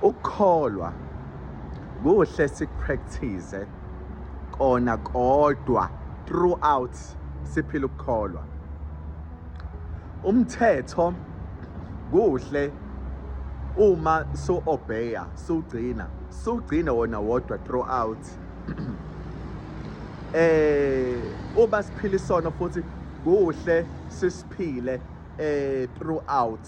ukukholwa kuhle sikupractice kona kodwa throughout siphila ukukholwa umthetho kuhle uma so obeya sugcina sugcina wona wodwa throughout eh uba siphila isono futhi kuhle sisiphile eh throughout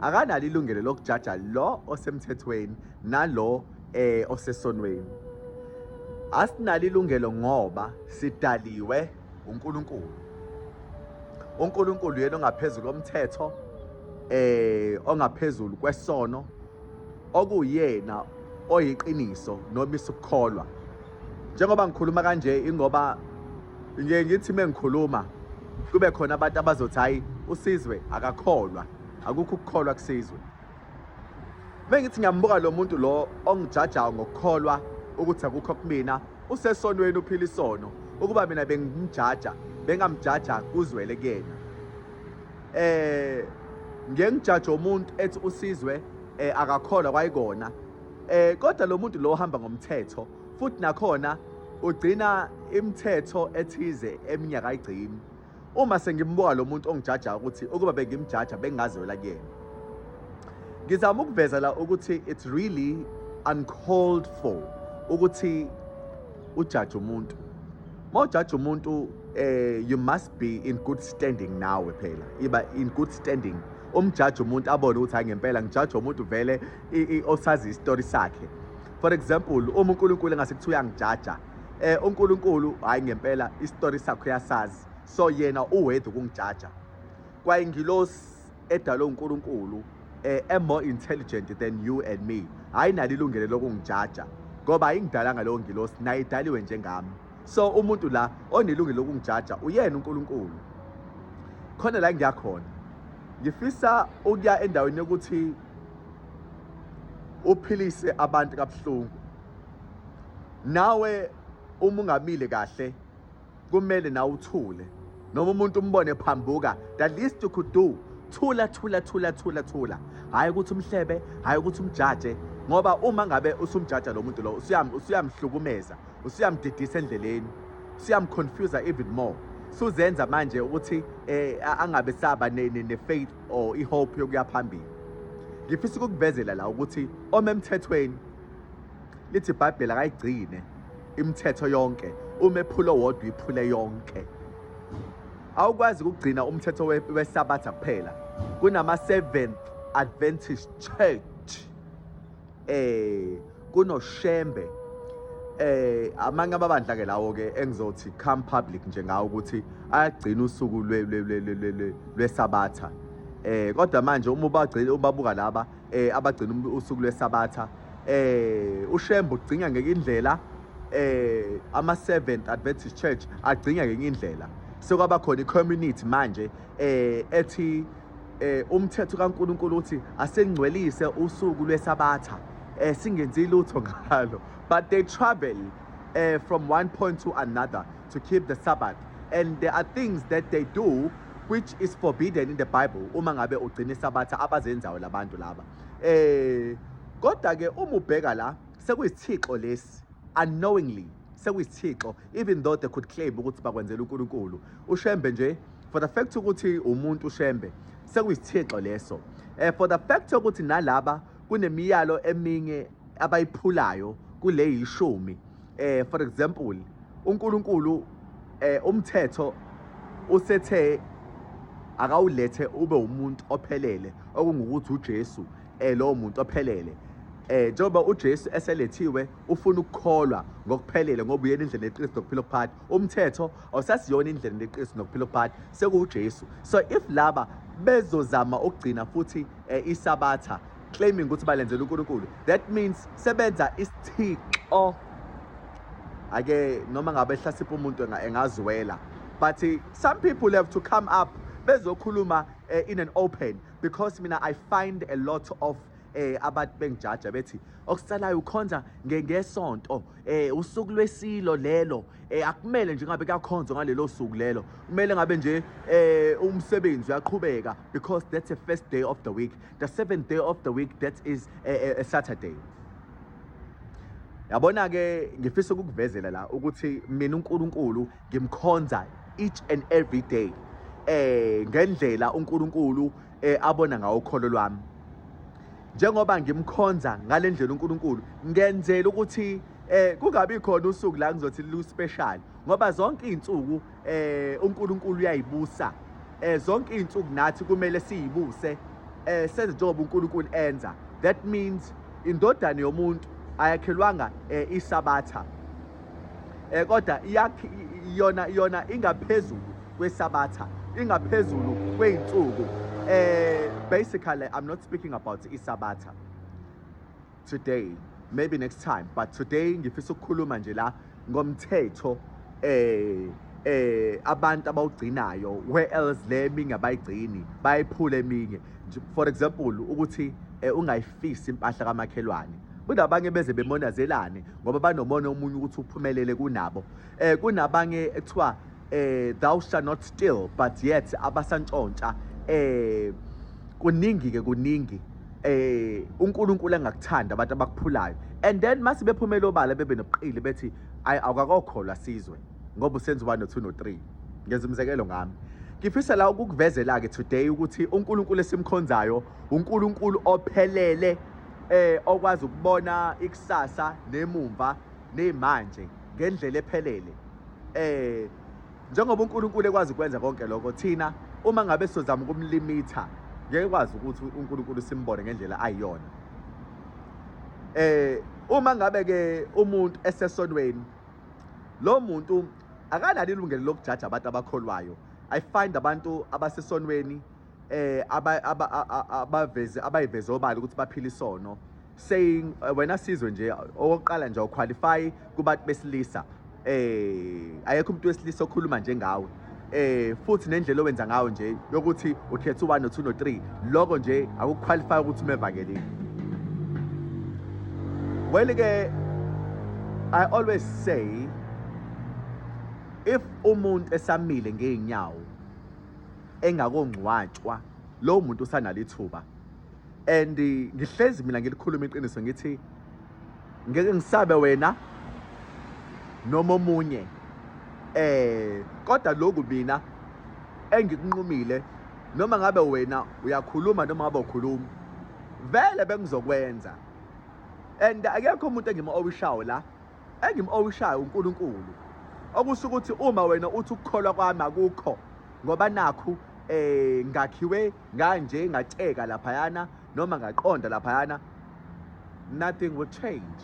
akanalo ilungelo lokujaja lo osemthethweni nalo eh osesonweni asinalo ilungelo ngoba sidaliwe uNkulunkulu uNkulunkulu yena ongaphezulu komthetho eh ongaphezulu kwesono okuyena oyiqiniso nomisa ukukholwa njengoba ngikhuluma kanje ingoba ngiye ngithi mengikhuluma kube khona abantu abazothi hayi usizwe akakholwa akukho ukukholwa kusizwe mengithi ngiyambuka lo muntu lo ongijajayo ngokukholwa ukuthi akukho kumina usesonweni uphila isono ukuba mina bengimjaja bengamjaja kuzwele kuyena eh ngeke ngijaje umuntu ethi usizwe eh akakholwa kwayikona eh kodwa lo muntu lo uhamba ngomthetho futhi nakhona ugcina imithetho ethize eminyaka igcini uma sengimbuka lo muntu ongijajayo ukuthi ukuba bengimjaja bengingazwela kuyena ngizama ukuveza la ukuthi it's really uncalled for ukuthi ujaje umuntu uma ujaje umuntu eh you must be in good standing nawe phela iba in good standing umjaji umuntu abone ukuthi hayi ngempela ngijaji umuntu vele osazi isitori sakhe for example uma uNkulunkulu engase kuthiwa uyangijaja eh uNkulunkulu hayi ngempela istory sakho uyasazi so yena uwethu kungijaja kwayingilosi edalwe uNkulunkulu eh am more intelligent than you and me hayi nalo ilungelo lokungijaja ngoba ayingidalanga leyo ngilosi naye idaliwe njengami so umuntu la onelungelo lokungijaja uyena uNkulunkulu khona la ngiyakhona ngifisa ukuya endaweni yokuthi uphilise abantu kabuhlungu nawe uma ungamile kahle kumele nawe uthule noma umuntu umbone phambuka the least you could do thula thula thula thula thula hhayi ukuthi umhlebe hhayi ukuthi umjaje ngoba uma ngabe usumjaja lo muntu lo usuyamhlukumeza usuyamdidisa endleleni usuyamconfusa even more suzenza manje ukuthi eh angabe saba ne-faith or i-hope yokuya phambili ngifisa ukukuvezela la ukuthi omemthethweni Lithi iBhayibheli akayigcine imithetho yonke, uma ephula owodwa iphule yonke. Awukwazi ukugcina umthetho weSabatha kuphela. Kunama-Seventh Adventist Church. Eh kunoShembe eh amanye amabandla ke lawo ke engizothi come public nje ngawo ukuthi ayagcina usuku lwesabatha eh kodwa manje uma ubagcina ubabuka laba eh abagcina usuku lwesabatha eh uShembe ugcina ngeke indlela eh ama Seventh Adventist Church agcina ngeke indlela sekwaba khona icommunity manje eh ethi eh umthetho kaNkuluNkulu uthi asengcwelise usuku lwesabatha eh singenzi lutho ngalo but they travel eh from one point to another to keep the sabbath and there are things that they do which is forbidden in the bible uma ngabe ugcina isabatha abazenzayo labantu laba eh kodwa ke uma ubheka la sekuyisithixo lesi unknowingly sekuyisithixo even though they could claim ukuthi bakwenzela uNkulunkulu ushembe nje for the fact ukuthi umuntu ushembe sekuyisithixo leso eh for the fact ukuthi nalaba kunemiyalo eminye abayiphulayo kule yishumi eh for example uNkulunkulu eh umthetho usethe akawulethe ube umuntu ophelele okungukuthi uJesu eh lowo muntu ophelele eh njengoba uJesu eselethiwe ufuna ukukholwa ngokuphelele ngoba uyena indlela yeqiniso nokuphila okuphakathi umthetho awusasiyona indlela yeqiniso nokuphila okuphakathi sekuwuJesu so if laba bezozama ukugcina futhi eh, isabatha claiming ukuthi balenzela uNkulunkulu that means sebenza isithixo ake noma ngabe ehlasipha umuntu engazwela but some people have to come up bezokhuluma eh, in an open because mina i find a lot of eh abantu bengijaja bethi okusalayo ukhonza ngesonto eh usuku lwesilo lelo eh akumele nje ngabe kuyakhonzwa ngalelo suku lelo kumele ngabe nje eh umsebenzi uyaqhubeka because that's the first day of the week the seventh day of the week that is a, a, a saturday yabona ke ngifisa ukukuvezela la ukuthi mina uNkulunkulu ngimkhonza each and every day eh ngendlela uNkulunkulu eh abona ngawo ukholo lwami njengoba ngimkhonza ngalendlela uNkulunkulu ngenzela ukuthi eh kungabi khona usuku la ngizothi lu special ngoba zonke izinsuku eh uNkulunkulu uyayibusa eh zonke izinsuku nathi kumele siyibuse eh senze njengoba uNkulunkulu enza that means indodana yomuntu ayakhelwanga eh, isabatha eh kodwa iyona iyona ingaphezulu kwesabatha ingaphezulu kweinsuku eh basically i'm not speaking about isabatha today maybe next time but today ngifisa ukukhuluma nje la ngomthetho eh eh abantu abawugcinayo where else le eminye abayigcini bayiphula eminye for example ukuthi eh, ungayifisi impahla kamakhelwane kunabanye beze bemonazelane ngoba banomona omunye ukuthi uphumelele kunabo eh kunabanye ekuthiwa eh thou shall not steal but yet abasantshontsha eh kuningi ke kuningi eh uNkulunkulu engakuthanda abantu abakuphulayo and then mase bephumela obala bebe nobuqili bethi ay awukakokholwa sizwe ngoba usenza ubani no2 no3 ngenza umzekelo ngami ngifisa la ukukuvezela ke today ukuthi uNkulunkulu esimkhonzayo uNkulunkulu ophelele eh okwazi ukubona ikusasa nemumva nemanje ngendlela ephelele eh njengoba uNkulunkulu ekwazi ukwenza konke lokho thina uma ngabe sizama ukumlimitha ngeke kwazi ukuthi uNkulunkulu simbone ngendlela ayiyona eh uma ngabe ke umuntu esesonweni lo muntu akanalo ilungelo lokujaja abantu abakholwayo i find abantu abasesonweni eh abaveze abayiveze obala ukuthi baphila isono saying eh, wena sizwe nje okokuqala nje uqualify kubantu besilisa eh ayekho umuntu wesilisa okhuluma njengawe eh futhi nendlela owenza ngayo nje yokuthi ukhetha u1 no2 no3 lokho nje akuqualify ukuthi umevakelile well ke i always say if umuntu esamile ngeenyawo engakongcwatshwa lowo muntu usanalo ithuba and ngihlezi mina ngilikhuluma iqiniso ngithi ngeke ngisabe wena noma omunye eh kodwa lokhu mina engikunqumile noma ngabe wena uyakhuluma noma ngabe ukhuluma vele bengizokwenza and akekho umuntu engima owishawo la engim owishayo uNkulunkulu okusho ukuthi uma wena uthi ukukholwa kwami akukho ngoba nakhu eh ngakhiwe nganje ngatsheka laphayana noma ngaqonda laphayana nothing will change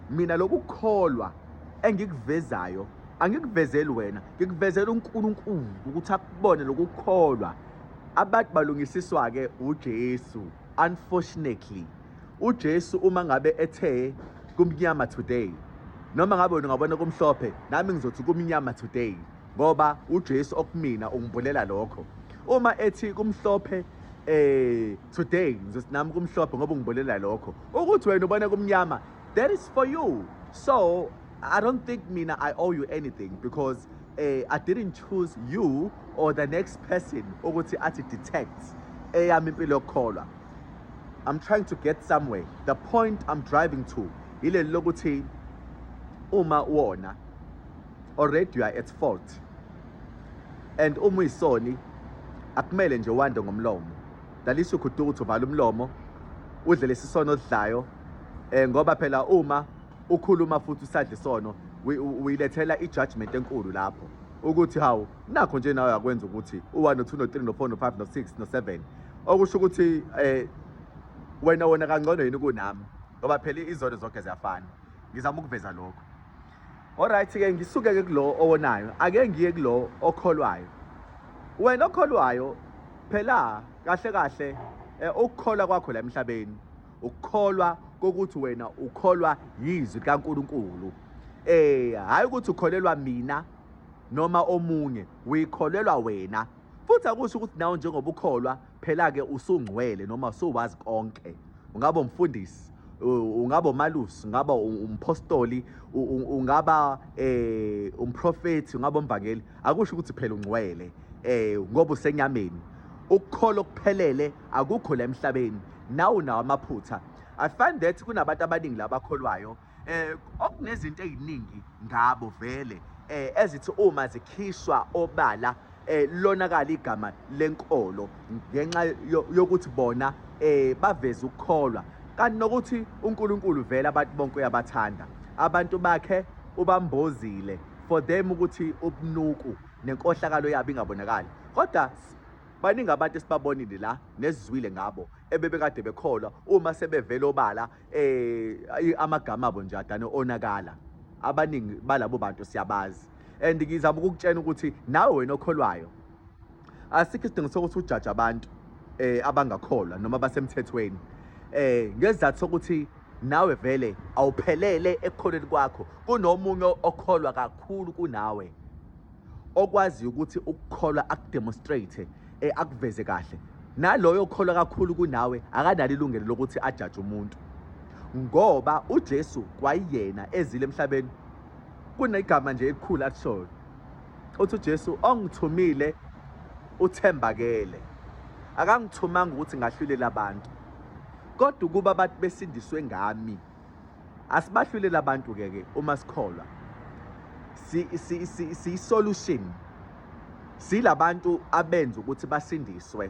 mina lokukholwa engikuvezayo angikuvezeli wena ngikuvezela uNkulunkulu ukuthi akubone lokukholwa abantu balungisiswa ke uJesu unfortunately uJesu uma ngabe ethe kumnyama today noma ngabe wena ungabona kumhlophe nami ngizothi kumnyama today ngoba uJesu okumina ungibulela lokho uma ethi kumhlophe eh today ngizothi nami kumhlophe ngoba ungibulela lokho ukuthi wena ubona kumnyama that is for you so i don't think mina i owe you anything because eh i didn't choose you or the next person ukuthi athi detect eyami impilo yokukholwa I'm trying to get somewhere the point I'm driving to yileli lokuthi uma wona already you are at fault and uma uyisoni akumele nje wande ngomlomo lalisho ukuthi ukuthi uvala umlomo udle lesisono odlayo eh ngoba phela uma ukhuluma futhi usadla isono uyilethela ijudgment enkulu lapho ukuthi hawu nakho nje nawe akwenza ukuthi u-1 no-2 no-3 no-4 no-5 no-6 no-7 okusho ukuthi um wena wona kangcono yini kunami ngoba phela izono zonke ziyafana ngizama ukuveza lokho olright-ke ngisuke-ke kulo owonayo ake ngiye kulo okholwayo wena okholwayo phela kahle kahle eh, ukukholwa kwakho la emhlabeni ukukholwa kokuthi wena ukholwa yizwi likaNkuluNkulu eh hayi ukuthi ukholelwa mina noma omunye uyikholelwa wena futhi akusho ukuthi nawe njengoba ukholwa phela-ke usungcwele noma usuwazi konke ungaba umfundisi ungaba umalusi ungaba umphostoli ungaba eh umprofethi ungaba umvangeli akusho ukuthi phela ungcwele eh ngoba usenyameni ukukhola okuphelele akukho la emhlabeni nawu nawo amaphutha i find that kunabantu abaningi labakholwayo eh okunezinto eziningi ngabo vele eh ezithi uma zikhishwa obala eh lonakala igama lenkolo ngenxa yokuthi bona eh baveza ukukholwa kanti nokuthi uNkulunkulu vele abantu bonke uyabathanda abantu bakhe ubambozile for them ukuthi ubunuku nenkohlakalo yabo ingabonakali kodwa baningi abantu esibabonile la nesizwile ngabo ebebekade bekholwa uma sebevela obala eh amagama abo nje adane onakala abaningi balabo bantu siyabazi and ngizama ukukutshena ukuthi nawe wena okholwayo asikho isidingo sokuthi ujaje abantu eh abangakholwa noma basemthethweni eh ngezathu sokuthi nawe vele awuphelele ekukholweni kwakho kunomunye okholwa kakhulu kunawe okwaziyo ukuthi ukukholwa akudemonstrate eh, akuveze kahle naloyo okholwa kakhulu kunawe akanalo ilungelo lokuthi ajaje umuntu ngoba uJesu kwayiyena ezile emhlabeni kunegama nje elikhulu akushoyo uthi uJesu ongithumile uthembakele akangithumanga ukuthi ngahlulela abantu kodwa ukuba abantu besindiswe ngami asibahlulele abantu ke ke uma sikholwa si si si, si solution silabantu abenza ukuthi basindiswe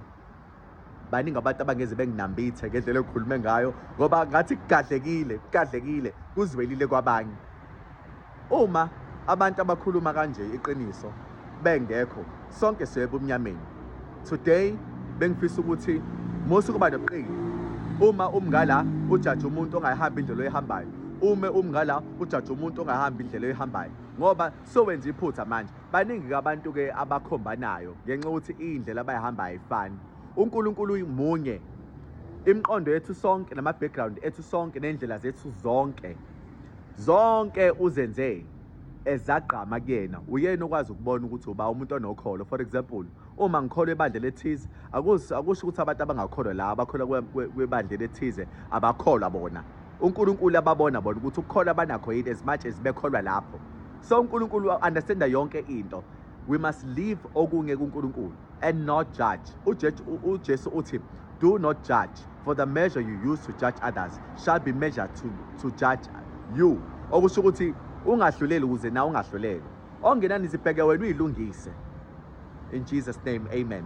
baningi abantu abangeze benginambithe ngendlela ekhulume ngayo ngoba ngathi kugadlekile kugadlekile kuzwelile kwabanye Uma abantu abakhuluma kanje iqiniso bengekho sonke siye ebumnyameni. Today bengifisa ukuthi musu kuba noqili uma umngala ujaja umuntu ongayihambi indlela oyihambayo ume umngala ujaja umuntu ongahambi indlela oyihambayo ngoba sowenza iphutha manje baningi kabantu ke abakhombanayo ngenxa ukuthi indlela abayihamba ayifani uNkulunkulu uyimunye imiqondo yethu sonke nama background ethu sonke nendlela zethu zonke Zonke uzenzeni ezagqama kuyena uyena okwazi ukubona ukuthi uba umuntu onokholo for example uma ngikholwa ebandla lethize akusho ukuthi abantu abangakholwa la abakholwa kwebandla lethize abakholwa bona uNkulunkulu ababona bona ukuthi ukukholwa banakho yini as much as bekholwa lapho so uNkulunkulu understanda yonke into we must live okunye kuNkulunkulu and not judge. UJesu uthi, do not judge, for the measure you use to judge others shall be measured to, to judge you. Okusho ukuthi ungahluleli ukuze na ungahluleli. Ongenani zibheke wena uyilungise. In Jesus name, amen.